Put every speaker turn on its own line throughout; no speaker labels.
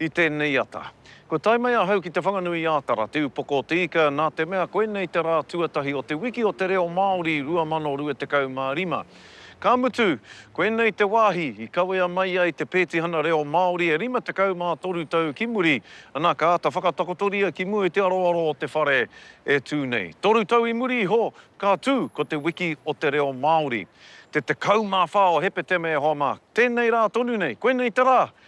I tēnei ata. Kua tae mai ahau ki Te Whanganui-ā-Tara, te upoko o te ika, nā te mea koinei te rā tuatahi o te Wiki o te Reo Māori 2025. Ka mutu, koinei te wāhi i kawea mai ai te pētihana reo Māori e 53 tau ki muri, ana, ka āta whakatakotoria ki mua i te aroaro o te whare e tū nei. Toru tau i muri iho, ka tū ko te Wiki o te Reo Māori. Te 14 o Hepetema e hoa mā. Tēnei rā tonu nei, koinei te rā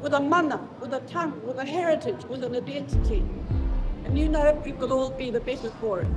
with a mana, with a tongue, with a heritage, with an identity. And
you know we will all be the better for it.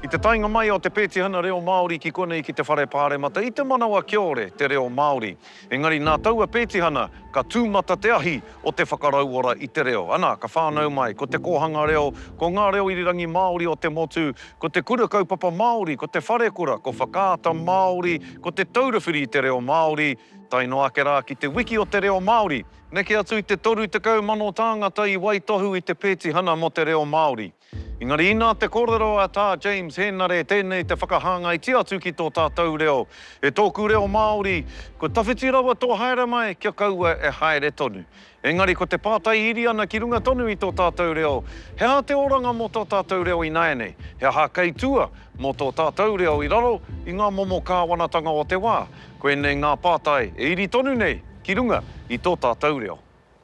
I te taenga mai o te pētihana reo Māori ki konei ki te whare pāremata i te manawa kiore te reo Māori. Engari nā taua pētihana ka tūmata te ahi o te whakarauora i te reo. Ana, ka whānau mai, ko te kōhanga reo, ko ngā reo irirangi Māori o te motu, ko te Kura Kaupapa Māori, ko te Wharekura, ko Whakaata Māori, ko Te Taura Whiri i te Reo Māori, tae noa ake rā ki te Wiki o te Reo Māori. Neke atu i te 30,000 tāngata i waitohu i te pētihana mō te reo Māori. Engari inā te kōrero a Tā James Hēnare tēnei te whakahāngaitia atu ki tō tātou reo, E tōku reo Māori, kua tawhiti rawa tō haere mai kia kaua e haere tonu. Engari ko te pātai iri ana ki runga tonu i tō tātou reo, he aha te oranga mō tō tātou reo ināianei, he aha kei tua mō tō tātou reo i raro i ngā momo kāwanatanga o te wā? Koinei ngā pātai e iri tonu nei ki runga i tō tātou reo.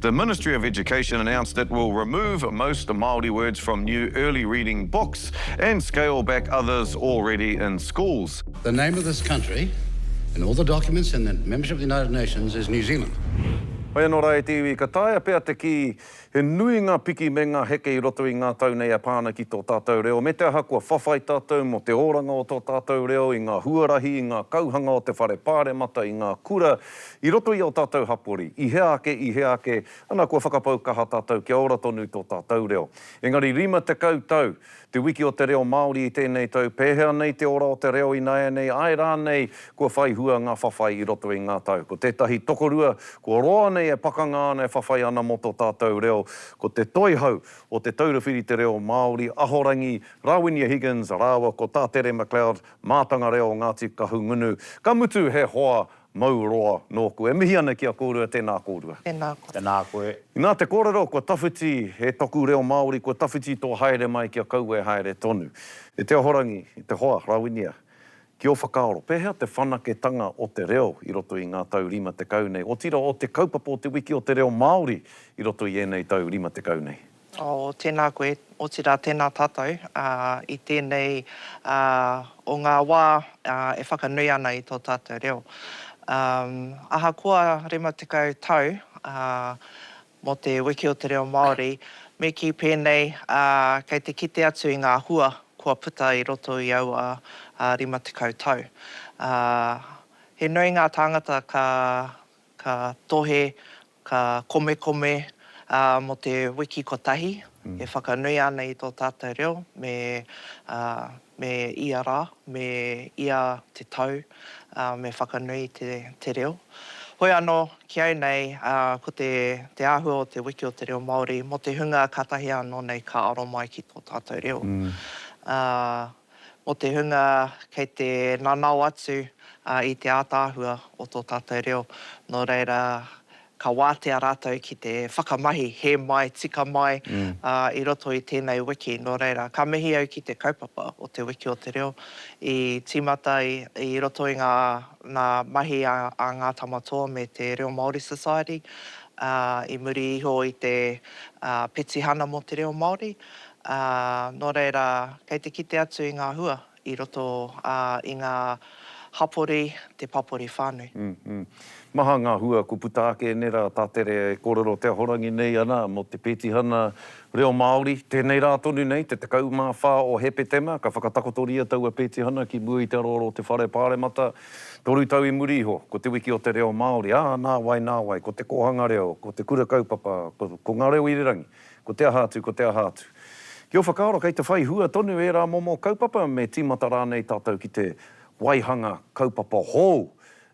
The Ministry of Education announced it will remove most Māori words from new early reading books and scale back others already in schools. The name of this
country in all the documents in the membership of the United Nations is New Zealand. Hoi anō rā
e te iwi, ka taea pea te kī, he nui ngā piki me ngā heke i roto i ngā tau nei e pā ana ki tō tātou reo, me te aha kua whawhai tātou mō te oranga o tō tātou reo i ngā huarahi, i ngā kauhanga o te Whare Pāremata, i ngā kura, I roto i ō tātou hapori, i hea ake, i hea ake, ana kua whakapau kaha tātou kia ora tonu tō tātou reo. Engari 50 tau, te wiki o te reo Māori i tēnei tau, pēhea nei te ora o te reo ināianei, āe rānei, kua whai hua ngā whawhai i roto i ngā tau. Ko tētahi tokorua, kua roa nei e pakanga ana, e whawhai ana mō tō tātou reo, ko te toihau o Te Taura Whiri Te Reo Māori, Ahorangi Rawinia Higgins rāua ko Tā Tere McLeod, Mātanga Reo o Ngāti Kahungunu. Ka mutu he hoa Mau roa nōku. E mihi ana ki a kōrua, tēnā kōrua. Tēnā koe. Tēnā koe.
I nā te kōrero, kua
tawhiti e toku reo Māori, kua tawhiti tō haere mai kia kaua e haere tonu. E te Ahorangi, e te hoa, Rawinia, ki ō whakaaro, pēhea te whanaketanga o te reo i roto i ngā tau rima tekau nei, otirā o te kaupapa o Te Wiki o te Reo Māori i roto i ēnei tau rima tekau nei? Oh, tēnā
koe, otirā tēnā tātou i tēnei o ngā wā e whakanui ana i tō tātou reo. Ahakoa rima tekau tau mō te Wiki o te Reo Māori, me kī pēnei kei te kite atu i ngā hua kua puta i roto i aua rima tekau tau. He nui ngā tāngata ka tohe Ka komekome mō te wiki kotahi e whakanui ana i tō tātou reo me ia rā, me ia te tau me whakanui te reo. Hoi anō, ki au nei, ko te āhua o te wiki o te reo Māori mō te hunga kātahi anō nei ka aro mai ki tō tātou reo. mō te hunga kei te nanao atu i te ātaahua o tō tātou reo, nō reira, ka wātea rātou ki te whakamahi, hē mai, tika mai i roto i tēnei wiki. Nō reira, ka mihi au ki te kaupapa o Te Wiki o Te Reo i tīmata i roto i ngā mahi a Ngā Tamatoa me te Reo Māori Society i muri iho i te petihana mō te reo Māori, ā, nō reira, kei te kite atu i ngā hua i roto, ā, i ngā hapori, te papori whānui. Maha
ngā hua kua puta ake nei rā, tā Tere kōrero te ahorangi nei ana mō te Pētihana Reo Māori. Tēnei rā tonu nei, te 14 o Hepetema, ka whakatakotoria taua Pētihana ki mua i te aroaro o te Whare Pāremata. Toru tau i muri iho, ko te Wiki o te Reo Māori, ā, nāwai, nāwai, ko te kōhanga reo, ko te kura kaupapa, ko Ngā Reo i Rerangi, Ko te aha atu, ko te aha atu. Ki ō whakaaro kei te whai hua tonu ērā momo kaupapa me tīmata rānei tātou ki te waihanga kaupapa hou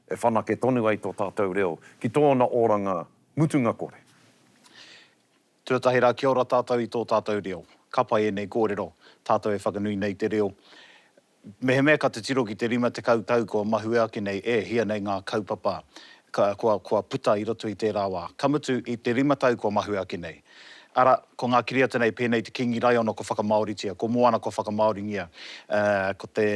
e whanake tonu ai tō tātou reo ki tōna oranga mutunga kore.
Tuatahi rā kia ora tātou i tō tātou reo. Ka pai ēnei kōrero, tātou e whakanui nei te reo. Mehemea ka titiro ki te 50 tau kua mahue ake nei, e hia nei ngā kaupapa kua puta i roto i tērā wā, ka mutu i te rima tau kua mahue ake nei. Arā, ko ngā kiriata nei pēnei te Kīngi Raiona kua whakamāoritia, ko Moana kua whakamāoringia, ko te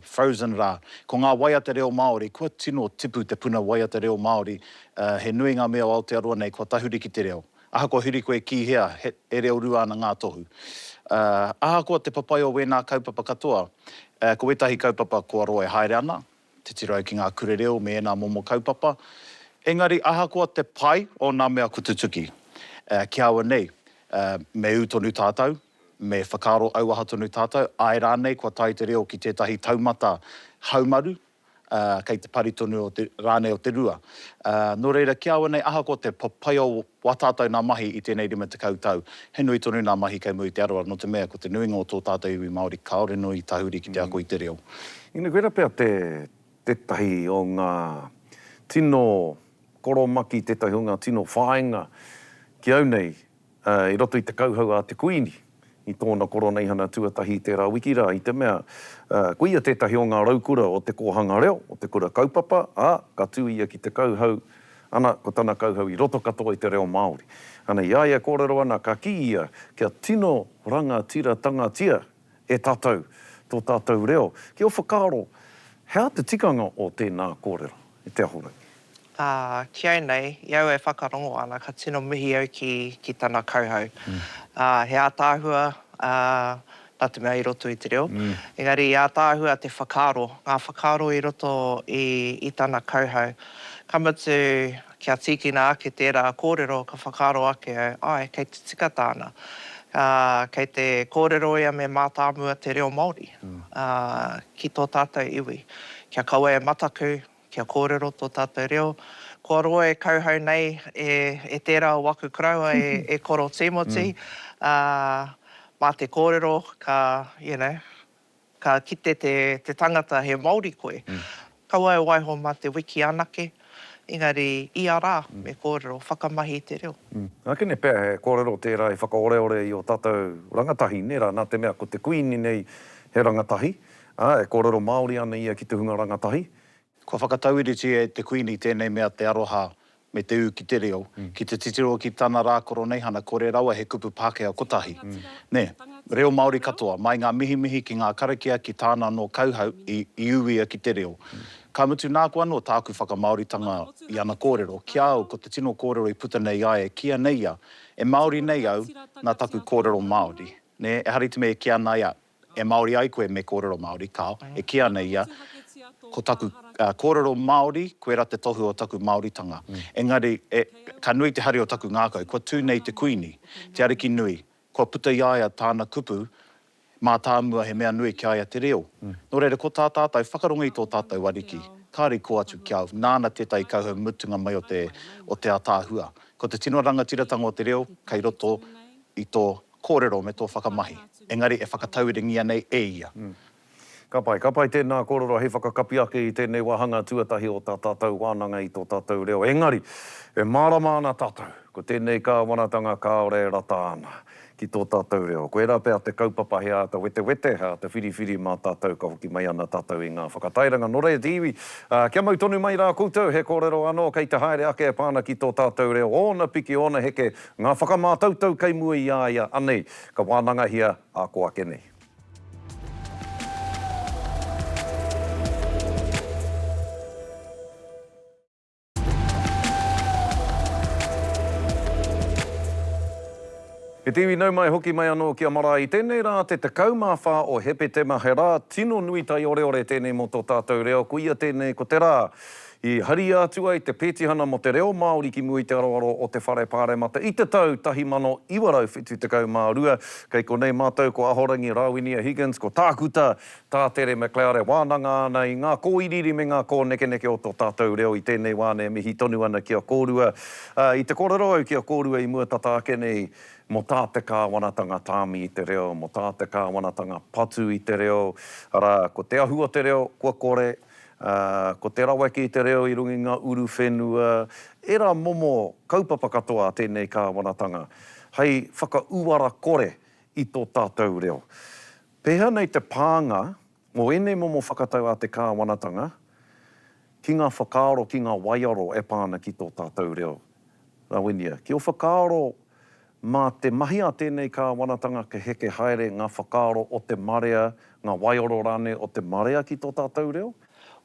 Frozen rā. Ko ngā waiata reo Māori, kua tino tipu te puna waiata reo Māori, he nui ngā mea o Aotearoa nei kua tahuri ki te reo. Ahakoa huri koe ki hea, e reo rua ana ngā tohu. Ahakoa te papai o wēnā kaupapa katoa, ko wētahi kaupapa kua roa e haere ana, titiro au ki ngā kure reo me ēnā momo kaupapa, engari ahakoa te pai o nā mea kua tutuki, ki aua nei, me ū tonu tātou, me whakaaro auaha tonu tātou, āe rānei kua tae te reo ki tētahi taumata haumaru, ā, kei te pari tonu o te, rānei o te rua. Ā, nō reira, ki a au nei, ahakoa te papai o wā tātou nā mahi i tēnei rima tekau tau, he nui tonu nā mahi kei muri i te aroaro, nō te mea, ko te nuinga o tō tātou iwi Māori, kāore nui i tahuri ki te ako i te reo. Ina koira pea
te, tētahi o ngā tino koromaki, tētahi o ngā tino whāinga ki au nei, i roto i te kauhau a te Kuini i tōna koroneihana tuatahi i tērā wiki rā, i te mea, ko ia tētahi o ngā raukura o te kōhanga reo, o te kura kaupapa, ā, ka tū ia ki te kauhau, ana, ko tana kauhau i roto katoa i te reo Māori. Ana, i a ia e kōrero ana, ka kī ia, kia tino rangatiratanga-tia e tātou, tō tātou reo, ki ō whakaaro, he aha te tikanga o tēnā kōrero, e Te Ahorangi? Ā, ki
au nei, i au e whakarongo ana, ka tino mihi au ki, ki tana kauhau. Ā, he ātaahua, ā, nā te mea i roto i te reo, engari he ātaahua te whakaaro, ngā whakaaro i roto i, i tana kauhau. Ka mutu, Kia tīkina ake tērā kōrero ka whakaaro ake au, āe, kei te tika tāna. Ā, kei te kōrero ia me mātāmua te reo Māori ki tō tātou iwi. Kia kaua e mataku, kia kōrero tō tātou reo. Kua roa e kauhau nei e tērā o aku koroua e Koro Tīmoti, ā, mā te kōrero ka, you know, Ka kite te tangata he Māori koe, kaua e waiho mā te wiki anake, engari ia rā me kōrero whakamahi i te reo. Nā Kene pea he
kōrero tērā i whakaoreore i ō tātou rangatahi, nē rā, nā te mea ko te Kuini nei he rangatahi, ā, e kōrero Māori ana ia ki te hunga rangatahi, Kua
whakatauiritia e te Kuini tēnei mea te aroha me te ū ki te reo, ki te titiro ki tana rā Koroneihana kore rawa he kupu Pākehā kotahi. Nē, reo Māori katoa, mai ngā mihimihi ki ngā karakia ki tāna anō kauhau i, i ū ia ki te reo. Ka mutu nāku anō tāku whakamāoritanga i ana kōrero, ki a au ko te tino kōrero i puta nei ai e kīia nei ia, e Māori nei au, nā taku kōrero Māori. Nē, ehara i te mea e kīia ana ai a. E Māori ai koe me kōrero Māori, kāo, e kī ana ia, Ko taku kōrero Māori, koirā te tohu o taku Māoritanga. Engari, e, ka nui te hari o taku ngākau, kua tū nei te Kuini, te Ariki Nui, kua puta i a ia tāna kupu mātāmua he mea nui ki a ia te reo. Nō reira, ko tā tātou, whakarongo i tō tātou Ariki, kāore i kō atu ki a au, nāna tētahi kauhau mutunga mai o te, o te ataahua. Ko te tino rangatiratanga o te reo, kei roto i tō Kōrero me tō whakamahi, engari e whakatauirangia nei e ia. Ka pai,
ka pai tēnā kōrero hei whakakapi ake i tēnei wāhanga tuatahi o tā tātou wānanga i tō tātou reo. Engari, e mārama ana tātou, ko tēnei kāwanatanga kāore e rata ana ki tō tātou reo. Koirā pea te kaupapa he āta wetewete, he āta whiriwhiri mā tātou ka hoki mai ana tātou i ngā whakatairanga. Nō reira te iwi, kia mau tonu mai rā koutou, he kōrero anō kei te haere ake e pā ana ki tō tātou reo, ōna piki, ōna heke, Ngā whakamātautau kei mua i a ia anei ka wānangahia a ko ake nei. He te iwi nau mai hoki mai anō ki a marae i tēnei rā te 14 o Hepetema he rā tino nui taioreore tēnei mō tō tātou reo ko ia tēnei ko te rā I haria atu ai te Petihana mō te Reo Māori ki mua i te aroaro o te Whare Pāremata i te tau 1972. Kei konei mātou ko Ahorangi Rawinia Higgins, ko Tākuta Tā Tere McLeod e wānanga ana i ngā kōiriiri me ngā kōnekeneke o tō tātou reo i tēnei wā nei. Mihi tonu ana ki a kōrua. I te kōrero au ki a kōrua i mua tata ake nei mō tā te Kāwanatanga tāmi i te reo, mō tā te Kāwanatanga patu i te reo, arā, ko te ahu o te reo kua kore, Ā, ko te raweke i te reo i runga i ngā uru whenua, ērā momo kaupapa katoa a tēnei kāwanatanga, hei whakauara kore i tō tātou reo. Pēhea nei te pānga o ēnei momo whakatau a te kāwanatanga ki ngā whakaaro, ki ngā waiaro e pā ana ki tō tātou reo? Rawinia, ki o whakaaro mā te mahi a tēnei kāwanatanga ka heke haere ngā whakaaro o te marea, ngā waioro rānei o te marea ki tō tātou reo?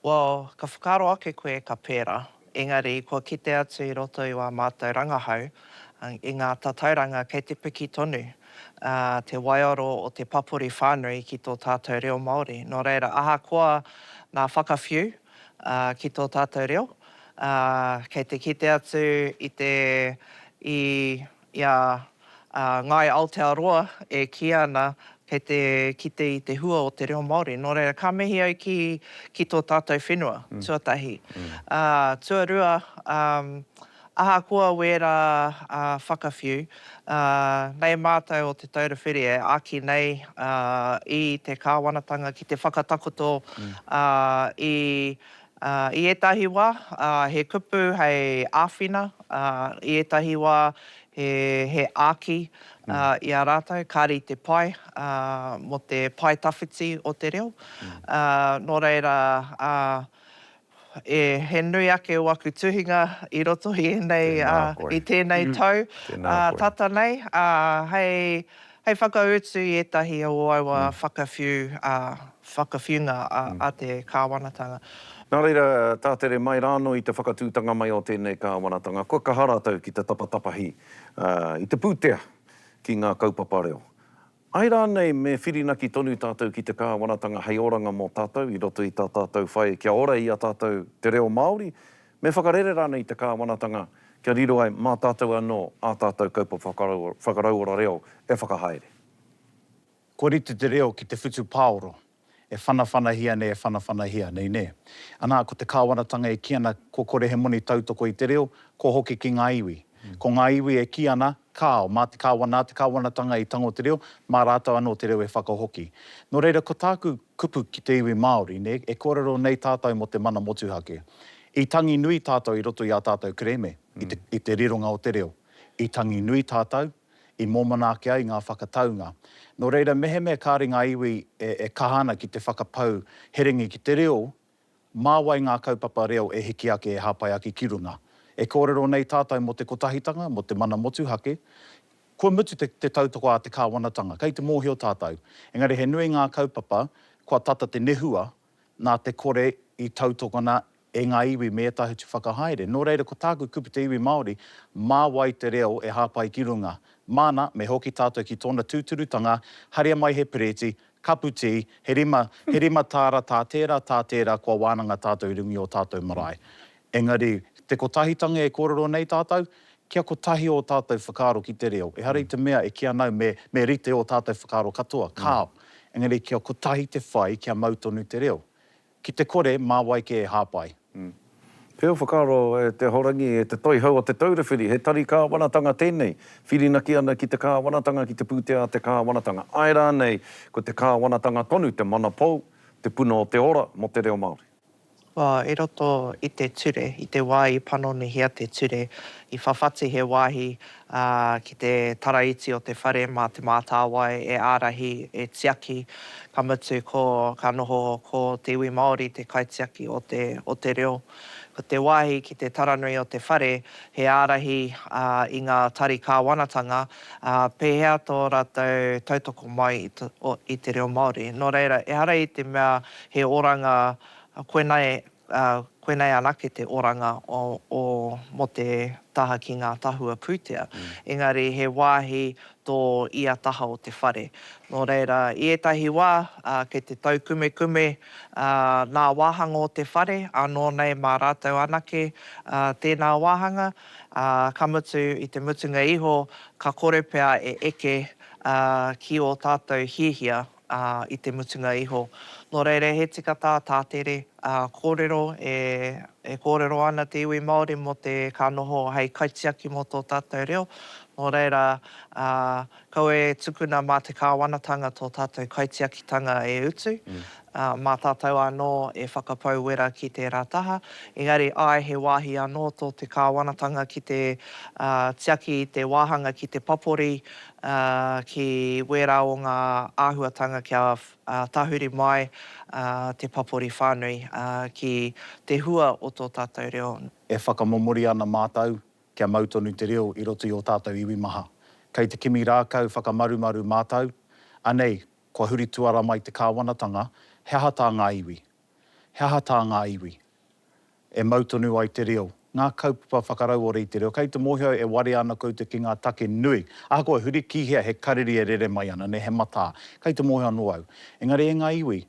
Well, ka
whakaaro ake koe ka pērā, engari kua kite atu i roto i wā mātou rangahau, i ngā tatauranga kei te piki tonu te waioro o te papori whānui ki tō tātou reo Māori. Nō reira, ahakoa ngā whakawhiu, ki tō tātou reo, kei te kite atu i te, i, i a Ngāi Aotearoa e kī ana kei te kite i te hua o te reo Māori. Nō reira, ka mihi au ki, ki tō tātou whenua, tuatahi. Tuarua, Ahakoa wērā whakawhiu, nei mātou o Te Taura Whiri e āki nei i te kāwanatanga ki te whakatakoto i ētahi wā he kupu hei āwhina, i ētahi wā he āki i a rātou, kāre i te pai mō te pae tawhiti o te reo. Nō reira, E, he nui ake o aku tuhinga i roto i enei, Tēnā koe. i tēnei tau, Tēnā koe. tata nei, ā, hei, hei whakautu i ētahi o aua whakawhiu, ā, whakawhiunga a, a te Kāwanatanga. Nā reira,
tātere mai rānō i te whakatūtanga mai o tēnei Kāwanatanga, kua kaha rātou ki te tapatapahi, ā, i te pūtea ki ngā kaupapa reo. Āe rānei, me whirinaki tonu tātou ki te Kāwanatanga hei oranga mō tātou i roto i tā tātou whai kia ora i a tātou te reo Māori? Me whakarere rānei te Kāwanatanga kia riro ai mā tātou anō ā tātou kaupapa whakarauora reo e whakahaere?
Kua rite te reo ki te whutupāoro, E whanawhanahia nei, e whanawhanahia nei, nē. Anā, ko te Kāwanatanga e kī ana, kua kore he moni tautoko i te reo, kua hoki ki ngā iwi. Ko ngā iwi e kī ana, kāo, mā te Kāwana, nā te Kāwanatanga i tango te reo, mā rātou anō te reo e whakahoki. Nō reira, ko tāku kupu ki te iwi Māori, nē, e kōrero nei tātou mō te mana motuhake. I tangi nui tātou i roto i ā tātou kerēme, i te rironga o te reo. I tangi nui tātou, i mōmona ake ai ngā whakataunga. Nō reira, mehemea kāre ngā iwi e kaha ana ki te whakapau herengi ki te reo, mā wai ngā kaupapa reo e hiki ake, e hāpai ake ki runga? E kōrero nei tātou mō te kotahitanga, mō te mana motuhake. Kua mutu te tautoko a te kāwanatanga, kei te mōhio tātou. Engari he nui ngā kaupapa, kua tata te nehua nā te kore i tautokona e ngā iwi me ētahi atu whakahaere. Nō reira, ko tāku kupu te iwi Māori, mā wai te reo e hāpai ki runga? Māna, me hoki tātou ki tōna tūturutanga, haria mai he pereti, kapu tī, he rima, he rima tāra tā tērā, tā tērā, kua wānanga tātou i runga i ō tātou marae. Engari, te kotahitanga e kōrero nei tātou, kia kotahi ō tātou whakaaro ki te reo. Ehara i te mea e kī ana au me rite ō tātou whakaaro katoa, kāo. Engari kia kotahi te whai kia mau tonu te reo. Ki te kore, mā wai kē e hāpai? Pea o
whakaaro e te Ahorangi, e te Toihau o Te Taura Whiri, he tari kāwanatanga tēnei, whirinaki ana ki te kāwanatanga, ki te pūtea a te kāwanatanga. Āe rānei, ko te kāwanatanga tonu te mana pou, te puna o te ora mō te reo Māori. Wā, i roto
i te ture, i te wā i panonihia te ture, i whawhati he wāhi ki te taraiti o te whare mā Te Mātāwai e ārahi, e tiaki, ka mutu ko, ka noho ko te iwi Māori te kaitiaki o te, o te reo. Ko te wāhi ki te taranui o te whare, he ārahi i ngā tari kāwanatanga, pēhea tō rātou tautoko mai i te reo Māori. Nō reira, ehara i te mea He oranga, koinei, koinei anake te oranga o, o, mō te taha ki ngā tahua pūtea. Engari he wāhi tō ia taha o te whare. Nō reira, i ētahi wā, kei te taukumekume ngā wāhanga o te whare, ānō nei mā rātou anake tēnā wāhanga, ā, ka mutu, i te mutunga iho, ka kore pea e eke ki ō tātou hiahia ā, i te mutunga iho. Nō reira, he tika tā tā tere, ā, kōrero e, e kōrero ana te iwi Māori mō te, ka noho hei kaitiaki mō tō tātou reo, nō reira, ā, kaua e tukuna mā te Kāwanatanga tō tātou kaitiakitanga e utu, ā, mā tātou anō e whakapau wera ki tērā taha, engari, āe, he wāhi anō tō te Kāwanatanga ki te, ā, tiaki i te wāhanga ki te papori, ā, ki wērā o ngā āhuatanga kia tahuri mai te papori whānui ki te hua o tō tātou reo. E whakamomori
ana mātou kia mau tonu te reo i roto i ō tātou iwi maha. Kei te kimi rākau whakamarumaru mātou, anei, kua huri tuara mai te kāwanatanga, he aha tā ngā iwi? He aha tā ngā iwi? e mau tonu ai te reo, ngā kaupapa whakarauora i te reo, kei te mōhio e warea ana koutou ki ngā take nui, ahakoa huri ki hea he kariri e rere mai ana, nē, he matā, kei te mōhio anō au. Engari e ngā iwi,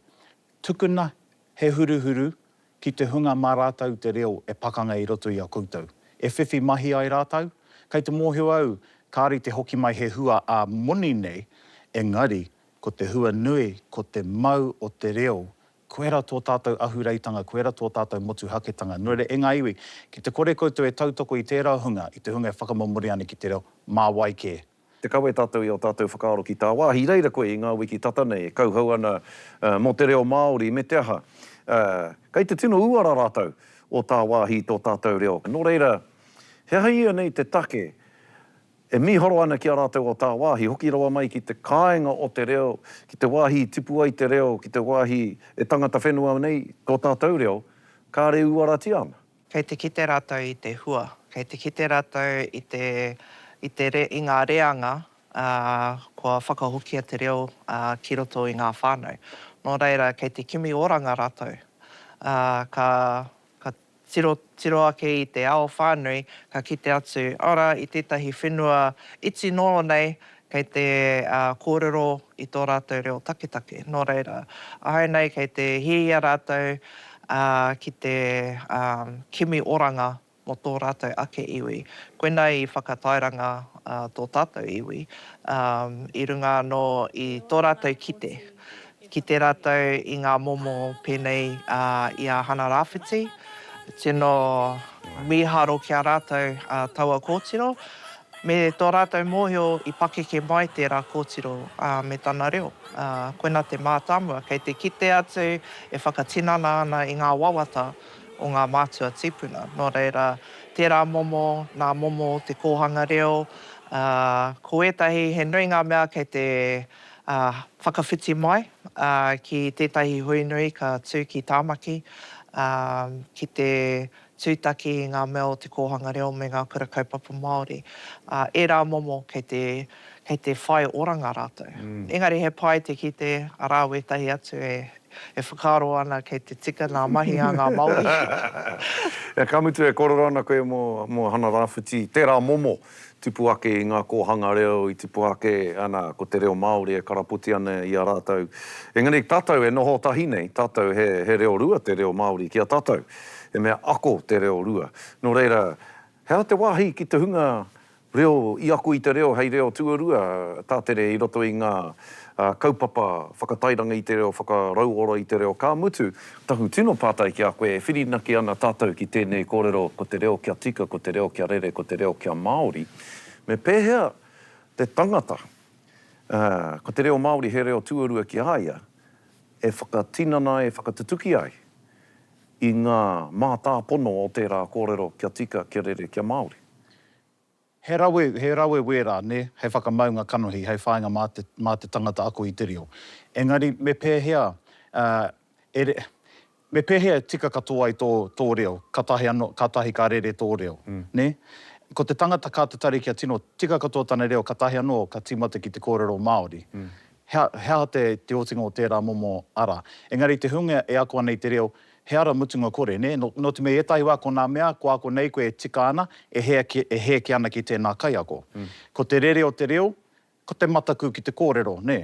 tukuna he huruhuru ki te hunga mā rātou te reo e pakanga i roto i a koutou, e whiwhi mahi ai rātou, kei te mōhio au kāore i te hoki mai he hua ā-moni nei, engari ko te hua nui ko te mau o te reo Koira tō tātou ahureitanga, koira tō tātou motuhaketanga. Nō reira, e ngā iwi, ki te kore koutou e tautoko i tērā hunga, i te hunga e whakamomori ana ki te reo, mā wai kē. Te kawe tātou
i ō tātou whakaaro ki tāwāhi, i reira koe i ngā wiki tata nei e kauhau ana mō te reo Māori, me te aha, kei te tino uara rātou o tāwāhi i tō tātou reo. Nō reira, he aha ia nei te take? E mīharo ana ki a rātou o tāwāhi, hoki rawa mai ki te kāinga o te reo, ki te wāhi i tipu ai te reo, ki te wāhi e tangata whenua nei tō tātou reo, kāre uaratia ana. Kei te kite rātou
i te hua, kei te kite rātou i te, i te, i ngā reanga, ā, kua whakahokia te reo, ā, ki roto i ngā whānau. Nō reira, kei te kimi oranga rātou, ā, ka, ka. Tiro, tiro ake i te ao whānui, ka kite atu, arā, i tētahi whenua iti noa nei, kei te kōrero i tō rātou reo taketake. Nō reira, āinei kei te hiahia rātou ki te kimi oranga mō tō rātou ake iwi. Koinā i whakatairanga tō tātou iwi i runga anō i tō rātou kite Kite rātou i ngā momo pēnei i a Hana Rāwhiti. Tino mīharo ki a rātou taua kōtiro, me tō rātou mōhio i pakeke mai tērā kōtiro me tana reo. Koina te mātāmua, kei te kite atu e whakatinana ana i ngā wawata o ngā mātua tīpuna. Nō reira, tērā momo, nā momo te kōhanga reo. Ko ētahi, he nui ngā mea kei te Ā, whakawhiti mai, ā, ki tētahi hui nui ka tū ki Tāmaki, ā, ki te tūtaki i ngā mea o te kōhanga reo me ngā kura kaupapa Māori. Ā, ērā momo kei te, kei te whai oranga rātou. Engari he pai te kite, arā wētahi atu e, e whakaaro ana kei te tika ngā mahi a ngā Māori.
Ka mutu e kōrero ana koe mō, mō Hana Rāwhiti, tērā momo. Tupu ake i ngā kōhanga reo i tipu ake ana ko te reo Māori e karapoti ana i a rātou. Engari tātou e noho tahi nei, tātou he, he reo rua te reo Māori ki a tātou. He mea ako te reo rua. Nō reira, he aha te wāhi ki te hunga reo i ako i te reo hei reo tuarua, tātere i roto i ngā kaupapa whakatairanga i te reo, whakarauora i te reo, ka mutu, Taku tino pātai ki a koe, e whirinaki ana tātou ki tēnei kōrero ko te reo kia tika, ko te reo kia rere, ko te reo kia Māori, me pēhea te tangata, ā, ko te reo Māori he reo tuarua ki a ia, e whakatinana ai, e whakatutuki ai i ngā mātāpono o tērā kōrero kia tika, kia rere, kia Māori? He
rawe, he rawe wērā, nē, hei whakamaunga kanohi, hei whāinga mā te, mā te tangata ako i te reo. Engari, me pēhea, e, e, me pēhea e tika katoa ai tō, tō reo, kātahi anō, kātahi ka rere tō reo, nē? Ko te tangata kā tatari kia tino tika katoa tana reo, kātahi anō ka tīmata ki te kōrero Māori. He, he aha te, te otinga o tērā momo ara? Engari i te hunga e ako ana i te reo, he ara mutunga kore, nē? Nō, nō te mea i ētahi wā ko nā mea kua ako nei koe e tika ana, e hē, e hē ake ana ki tēnā kaiako. Ko te rere o te reo, ko te mataku ki te kōrero, nē?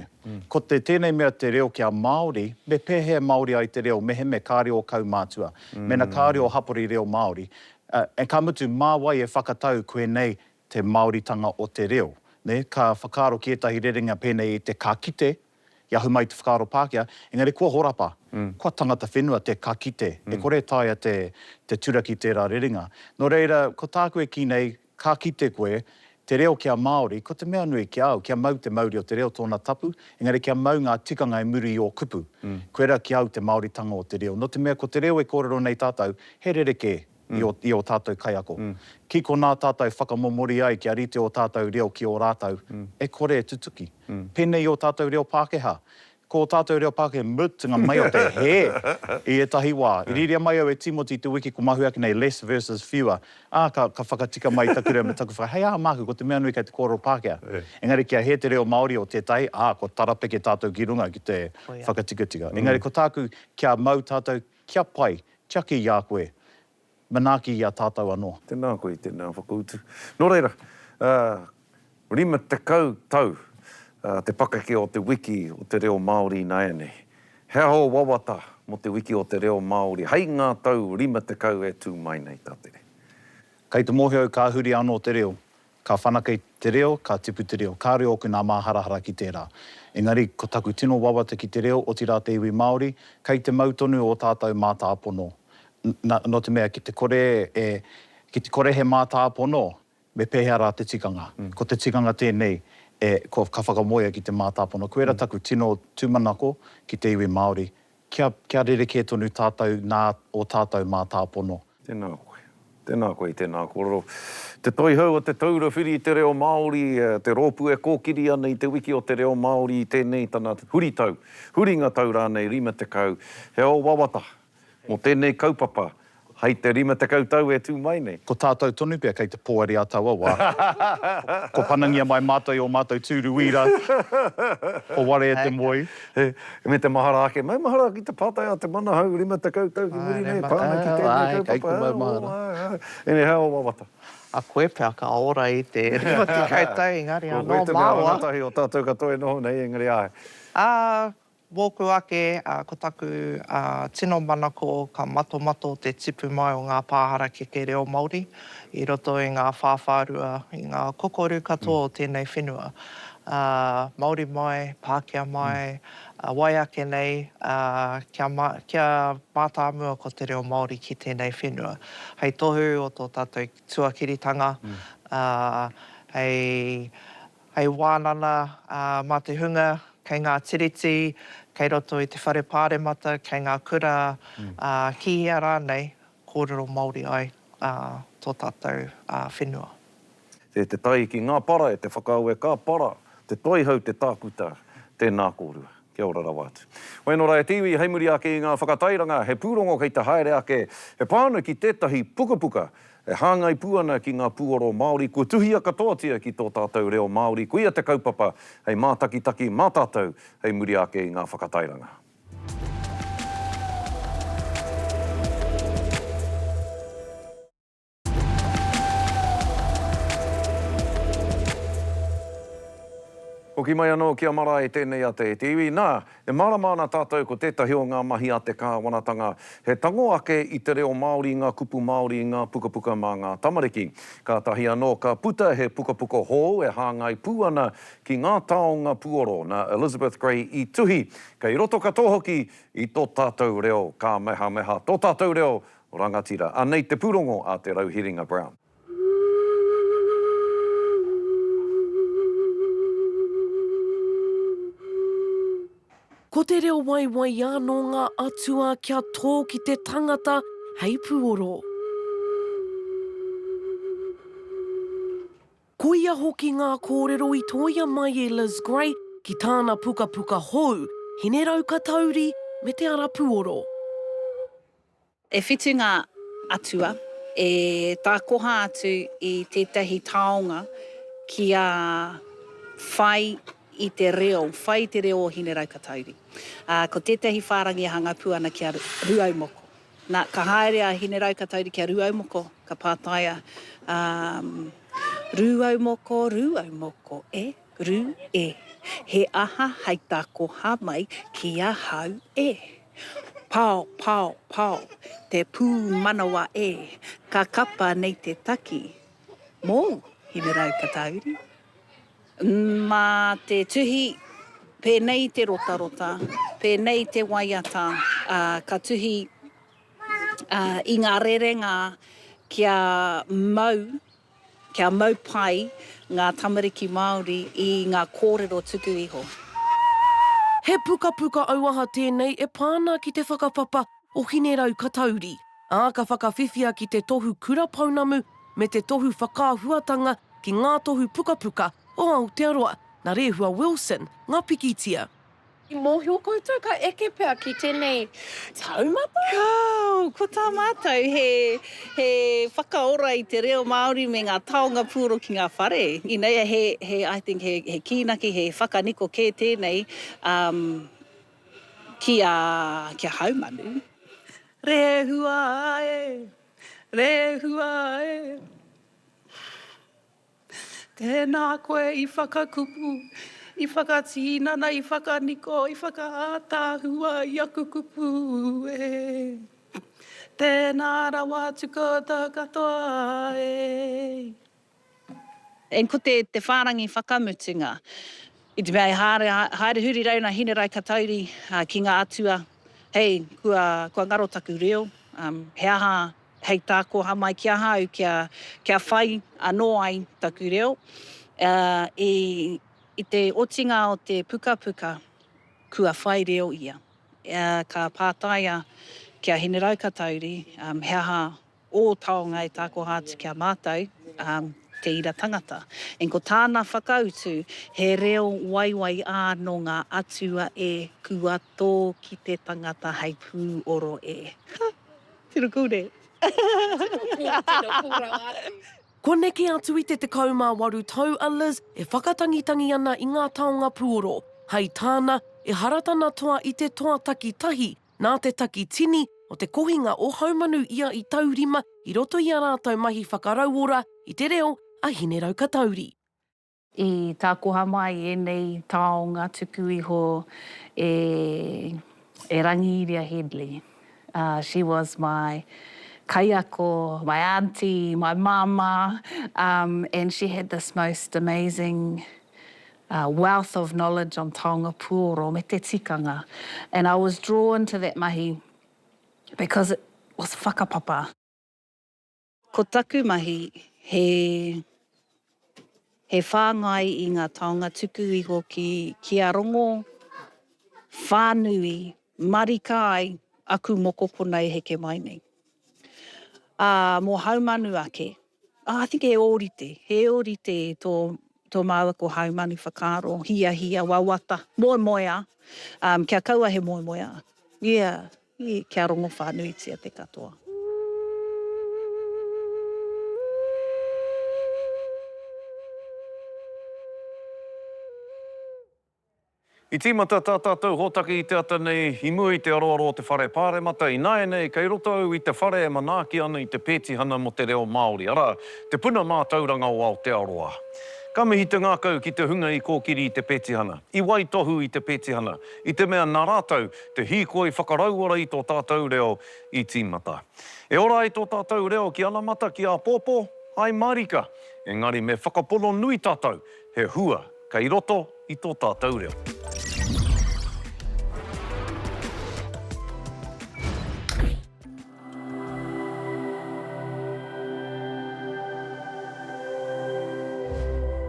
Ko te tēnei mea te reo kia Māori, me pēhea e Māori ai te reo mehemea kāre ō kaumātua, mēnā kāre ō hapori reo Māori, ā, ā, ka mutu, mā wai e whakatau koe nei te Māoritanga o te reo. Nē, ka whakaaro ki ētahi rerenga pēnei i te ka kite, i ahu mai i te whakaaro Pākehā, engari kua horapa, kua tangata whenua te ka kite, e kore e taea te, te turaki tērā rerenga. Nō reira, ko tāku e kī nei, ka kite koe, te reo kia Māori, ko te mea nui ki a au, kia mau te mauri o te reo tōna tapu, engari kia mau ngā tikanga i muri i ō kupu. Koirā ki a au te Māoritanga o te reo. Nō te mea ko te reo e kōrero nei tātou, he rerekē, i ō tātou kaiako. Ki konā tātou whakamomori ai kia rite ō tātou reo ki ō rātou, e kore e tutuki. Pēnei i ō tātou reo Pākehā. Ko ō tātou reo Pākehā, mutunga mai o te hē i ētahi wā. I rīria mai au e Tīmoti te wiki ko Mahu ake nei, less versus fewer, ā, ka whakatika mai taku reo me taku whakaaro, hei aha māku, ko te mea nui kei te kōrero Pākehā. Engari kia hē te reo Māori o tētahi, ā, kua tarapeke tātou ki runga ki te whakatikatika. Engari ko tāku, kia mau tātou Kia pai, tiaki i a koe. Manaaki i a tātou anō. Tēnā koe i tēnā
whakautu. Nō reira, ā, 50 tau te pakeke o te wiki o te reo Māori ināianei. He aho wawata mō te wiki o te reo Māori hei ngā tau 50 e tū mai nei, tā tere. Kei te
mōhio au ka huri anō te reo, Ka whanake i te reo, ka tipu te reo. Kāore ōku nā māharahara ki tērā. Engari, ko taku tino wawata ki te reo, otirā te iwi Māori, kei te mau tonu ō tātou mātāpono. Na, nō te mea, ki te kore e, ki te kore he mātāpono, me pēhea rā te tikanga? Ko te tikanga tēnei, e, ko, ka whakamoea ki te mātāpono. Koira taku tino tūmanako ki te iwi Māori, Kia, kia rerekē tonu tātou nā ō tātou mātāpono. Tēnā koe.
Tēnā koe i tēnā kōrero. Te Toihau o Te Taura Whiri i te Reo Māori, te rōpū e kōkiri ana i Te Wiki o te Reo Māori i tēnei tana huritau, huringa tau rānei 50. He ao wawata mō tēnei kaupapa Hai te rima tekau tau e tū mai nei. Ko tātou tonu pea kei
te poari a taua wā. Kua panangia mai mātou i ō mātou tūru wīra. Kua ware e te moe. Me te mahara
ake. Maumahara ki te pātai a te manahau rima tekau tau ki muri nei, pā ana ki tēnei kaupapa. Kei te maumahara. Ēnei hea o wawata. A koe pea
ka ora i te rima tekau tau engari anō māua. Ko koe te mea rangatahi o tātou
katoa e noho nei engari āe. Ā, Wōku ake,
ko taku tino manako ka matomato te tipu mai o ngā pā harakeke reo Māori i roto i ngā whāwhārua, i ngā kokoru katoa o tēnei whenua. Māori mai, Pākehā mai, wai ake nei, kia mātāmua ko te reo Māori ki tēnei whenua. Hei tohu o tō tātou tuakiritanga, hei. hei wānana mā te hunga kei ngā Tiriti, kei roto i te Whare Pāremata, kei ngā kura, ā, ki hea rānei, kōrero Māori ai tō tātou whenua. E te
tai ki ngā para, e te whakaawe ka para, te toihau, te tākuta, tēnā kōrua. Kia ora rawa atu. Wai nō rā e te iwi, hei muri ake i ngā whakatairanga, he pūrongo kei te haere ake, he pānui ki tētahi pukapuka E hāngai pū ana ki ngā pūoro Māori kua tuhia katoatia ki tō tātou reo Māori, koia te kaupapa hei mātakitaki mā tātou hei muri ake i ngā whakatairanga. Hoki mai anō ki a Marae tēnei a te iwi, nā, E mārama ana tātou ko tētahi o ngā mahi a te Kāwanatanga he tango ake i te reo Māori, ngā kupu Māori, ngā pukapuka mā ngā tamariki. Kātahi anō ka puta he pukapuka hou e hāngai pū ana ki ngā taonga puoro nā Elizabeth Gray i tuhi, kei roto katoa hoki i tō tātou reo kāmehameha, tō tātou reo rangatira. Anei te pūrongo a Te Rauhiringa Brown.
Ko te reo waiwaiā nō ngā atua kia tō ki te tangata hei puoro. Koia hoki ngā kōrero i tōia mai e Liz Gray ki tāna pukapuka hou, Hinerau Katauri me Te Ara Puoro.
E whitu ngā atua e tākoha atu i tētahi taonga kia whai i te reo, whai i te reo o Hineraukatauri. Ā, ko tētahi whārangi e hanga pū ana ki a Rūaumoko. Nā, ka haere a Hineraukatauri ki a Rūaumoko, ka pātaia, ā, Rūaumoko, Rūaumoko e! Ru, E. He aha hai tā koha mai ki ahau e? Pao, pao, pao, te pūmanawa e, ka kapa nei te taki. Mōu, Hinerau Katauri? Mā te tuhi, pēnei te rotarota, pēnei te waiata, ā, ka tuhi i ngā rerenga kia mau Kia mau pai ngā tamariki Māori i ngā kōrero tuku iho.
He pukapuka auaha tēnei e pā ana ki te whakapapa o Hinerau-Katauri, ā, ka whakawhiwhia ki te tohu kura pounamu me te tohu whakaahuatanga ki Ngā Tohu Pukapuka o Aotearoa, nā Rehua Wilson ngā pikitia. I mōhio
koutou ka eke pea ki tēnei taumata? Kāo! Ko
tā mātou he, he whakaora i te reo Māori me ngā taonga pūoro ki ngā whare. Inei a, he, he, I think he, he kīnaki, he whakaniko kē tēnei um, ki, a, ki a Haumanu. Rehua e, rehua e. Tēnā koe i whakakupu, i whakatīnana, i whakaniko, i whakaātaahua i aku kupu e. Tēnā rawa atu koutou katoa e. Eng ko te te whārangi whakamutunga. I te mea e haere haere huri rau na Hinerae Katauri ki nga atua hei kua kua ngaro taku reo he aha Hei tā Koha mai ki ahau kia whai anō ai taku reo, i te otinga o te pukapuka kua whai reo ia. Ka pātaia ki a Hine Raukatauri he aha ō taonga e takoha atu ki a mātou te ira tangata. Eng ko tāna whakautu he reo waiwai ā nō ngā atua e kua tō ki te tangata hei pūoro e.
Tino cool ne. Tino cool, tino cool rawa atu. Kua neke atu i te 18 tau a Liz e whakatangitangi ana i ngā taonga puoro. Hai tāna, ehara tana toa i te toa taki tahi nā te taki tini o te kohinga o Haumanu ia i taurima i roto i a rātou mahi whakarauora i te reo a Hineraukatauri. I
tākoha mai ēnei taonga tuku iho e e Rangiiria Hedley. She was my kaiako, my aunty, my mama and she had this most amazing wealth of knowledge on taonga puoro me te tikanga and I was drawn to that mahi because it was whakapapa. Ko taku mahi, he he whāngai i ngā taonga tuku iho ki kia rongo whānui marika ai aku mokopuna e heke mai nei. Ā, mō Haumanu ake, I think he ōrite, he ōrite tō tō māua ko Haumanu whakaaro, hiahia, wawata, moemoeā, um, kia kaua he moemoeā. Yeah. Kia rongo whānuitia
te katoa. I tīmata tā tātou hōtaka i te ata nei i mua i te aroaro o te Whare Pāremata, ināianei kei roto au i te whare e manaaki ana i te pētihana mō te reo Māori, arā, Te Puna Mātauranga o Aotearoa. Ka mihi te ngākau ki te hunga i kōkiri i te pētihana, i waitohu i te pētihana, i te mea nā rātou Te hīkoi whakarauora i tō tātou reo i tīmata. E ora ai tō tātou reo ki anamata, ki āpōpō, hai mārika, engari me whakapono nui tātou he hua kei roto i tō tātou reo.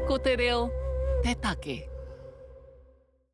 Ko te reo te take.